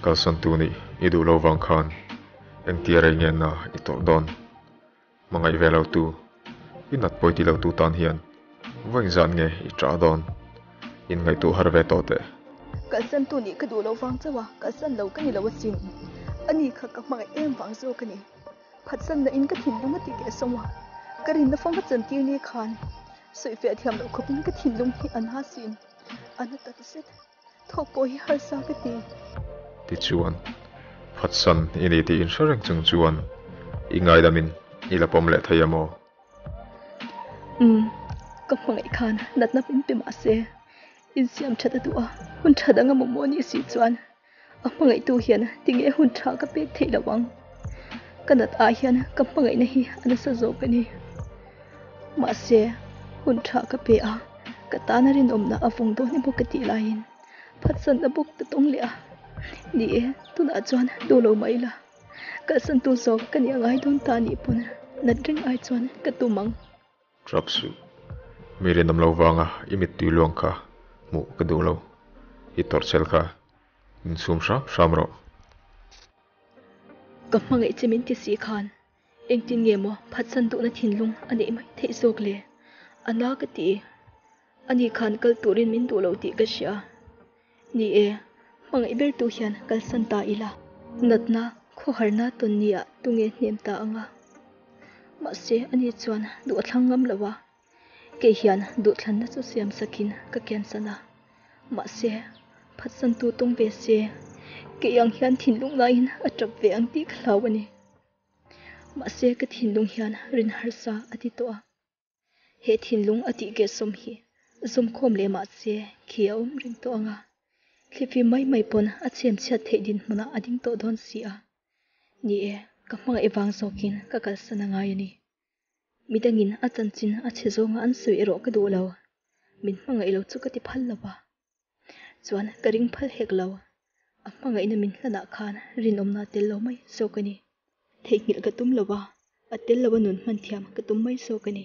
Kalsan tu nih i duh lo vang khan engtia rei ngen na i tawrh dawn? Hmangaih ve lo tu, i nat pawi ti lo tu tan hian vawiin zan nge i ṭah dawn? In ngaihtuah har ve tawh teh. Kalsan tu nih ka duh lo vang chauh a, kalsan lo ka ni lo asin. Ani kha ka hmangaih em vang zawk a ni. Phatsanna in ka thin lung a ti teh sawm a, ka rinna fawng a chawn tir ni khan sawi fiah thiam loh khawp in ka thin lung hi a na sin a na ta ta zet, thawk pawh hi harsa ka ti. Ti chuan Phatsan i ni tiin hre reng chung chuan i ngailam in i la pawm leh thei a maw? Umm, ka hmangaih khan natna pin pe mah se, in siam that a duh a, hun tha dang a maw maw ni si chuan A hmangaihtu hian tinge a hun tha ka pek theih loh ang. Ka nat ah hian ka hmangaihna hi a nasa zawk a ni. Mahse, hun tha ka pe a, ka tana rinawmna a vawng dawn i bawk ka tih laiin phatsanna bawk ka tawng leh a. Ni e, tunah chuan duh lo mai ila, kalsan tu zawk ka nih a ngai dawn ta nih pawn nat reng ai chuan ka tum ang. Truck suih mi rinawm lo vanga i mittui luang kha hmuh ka duh lo. I tawrhchel kha min sum hram hram rawh. Ka hmangaih che min ti si khan engtin nge maw phatsan duhna thinlung a neih mai theih zawk le? Ana ka ti. A nih khan kal turin min duh lo tih ka hria a ni e, hmangaih ber tu hian kalsan ta ila. Natna khawharna tawn nia tunge hnem ta anga, mahse a ni chuan duh a thlang ngam lo a, kei hian duh thlanna chu siam sakin ka cancel a, mahse phatsan tu tawng ve se kei ang hian thinlung laiin a tap ve ang tih ka hlau a ni, mahse ka thinlung hian rin harsa a ti tawh a. He thinlung a tih ke sawm hi zawmkhawm leh mahse khi a awm ring tawh ang a, thlifim mai mai pawn a chhianchhiat theih dinhmunah a ding tawh dawn si a ni e, ka hmangaih vang zawkin ka kalsan a ngai a ni. Mi dangin a chanchin a chhe zawnga an sawi erawh ka duh lo, min hmangaih lo chu ka ti phal lo a. Chuan ka ring phal hek lo. A hmangaihna min hlanah khan rinawmna tel lo mai sawk a ni. Theihnghilh ka tum lo a, a tel loa nun hman thiam ka tum mai sawk a ni.